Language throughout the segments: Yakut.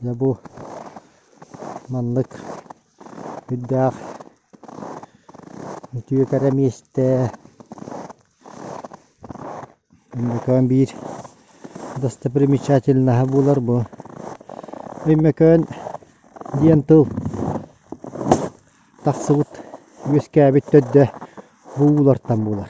Дьэ бу маннык үрдээх үтүө кэрэ миэстэ Өймөкөөн биир достопримечательноһа буолар бу. Өймөкөөн диэн тыл тахсыбыт үөскээбит төрдө бу уулартан буолар.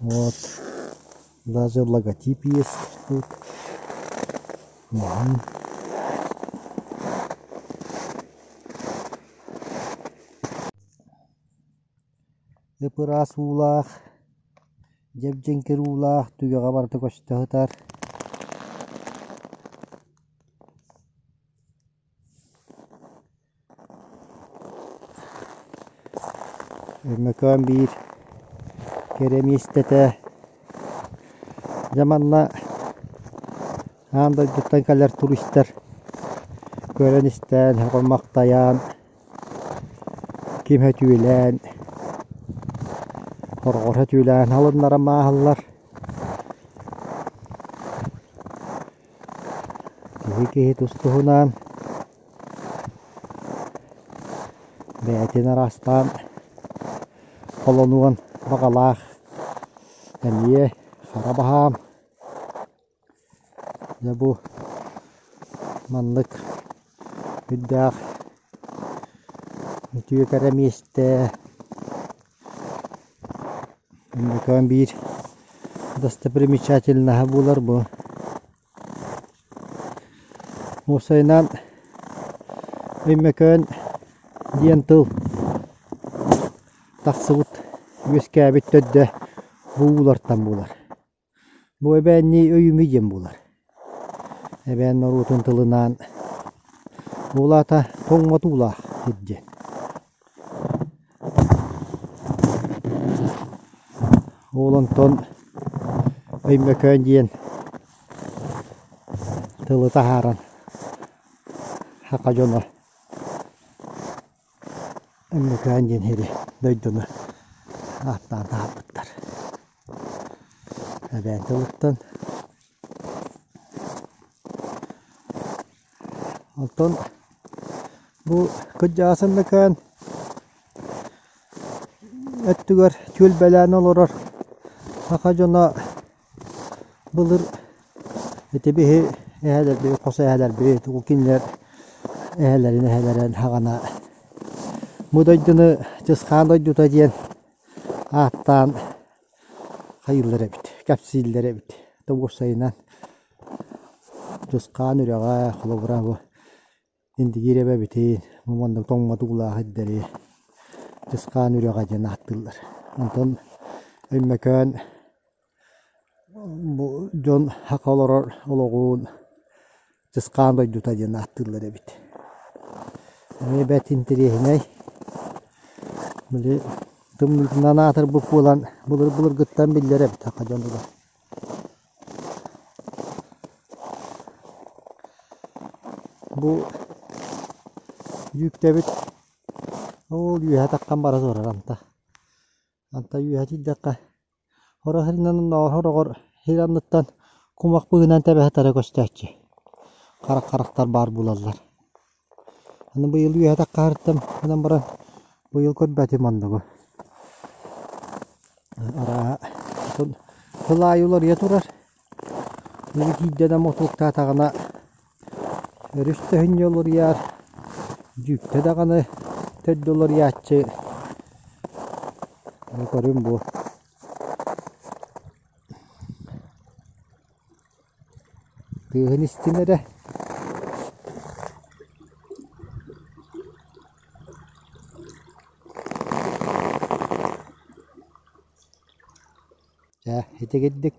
вот даже логотип есть тут угу ып-ыраас уулаах дьэбдьэҥкир уулаах түгэҕэ барыта көстө сытар Өймөкөөн биир кэрэ миэстэтэ дьэ манна аан дойдуттан кэлэр туристар көрөн-истэн, хомахтайан, ким өтүүлээн, хорҕор өтүүлээн алыннаран мааһыллар. Киһи киһи тус-туһунаан бэйэтин араастаан холонуон баҕалаах эмиэ хара баһаам. Дьэ бу маннык үрдээх үтүө кэрэ миэстэ Музыкам биир достопримечательноһа буолар бу. Уопсайынан Өймөкөөн диэн тыл тахсыбыт үөскээбит төрдө бу уулартан буолар Бу эбээннии өйүмүй диэн буолар. Эбээн норуотун тылынаан Уулаата тоҥмотуулаах диэн. Уол онтон Өймөкөөн диэн тылы таһааран саха дьоно Өндөкөөн диэн сири дойдуну ааттаан таһаарбыттар. Эбээн тылыттан Оттон бу кырдьаҕас Өндөкөөн өттүгэр түөлбэлээн олорор саха дьоно Былыр ити биһи эһэлэрбит, хос эһэлэрбит тугу кинилэр эһэлэрин эһэлэрин хаҕана бу дойдуну Чысхаан дойдута диэн ааттаан хайыыллар эбит, кэпсииллэр эбит. Тоҕус сайынан Чысхаан үрэҕэ, холобура бу Индигиир эбэбитин, мам оннук тоҥмотук улаахайдары Дьысхаан Үрэҕэ диэн ааттыыллар. Онтон Өймөкөөн бу дьон саха олорор олоҕун Дьысхаан дойдута диэн ааттыыллар эбит. Эбэт интэриэһинэй. Били тымныытынан аатырбыт буолан былыр-былыргыттан биллэр эбит саха дьонугар. Бу дьүүктэбит ол үөһэ таххан бара турар анта. Анта үөһэ тиийдэххэ хороһырынан хороҕор сир анныттан кумах быыһынан тэбэһэ тара көстөөччү. Харах харахтар баар буолаллар Аны быйыл үөһэтэх хаһыаттан гынан баран быйыл көрбөтүм оннугу. Арааһа отон сыл аайы уларыйа турар. Били киирдэнэ мотуоктаатаҕына өрүс төһүнньэ уларыйар, дьүүктэ даҕаны төрдө уларыйааччы көрүм бу. Тыаһын истин эрэ Чэ, ити гиддик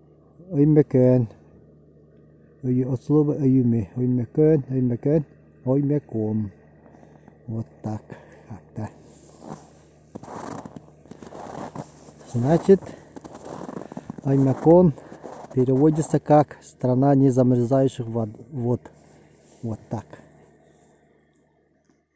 Өймөкөөн от слова өйүмэ Өймөкөөн Өймөкөөн Оймөкөөн вот так как-то значит Оймакон переводится как страна не замерзающих вод вот так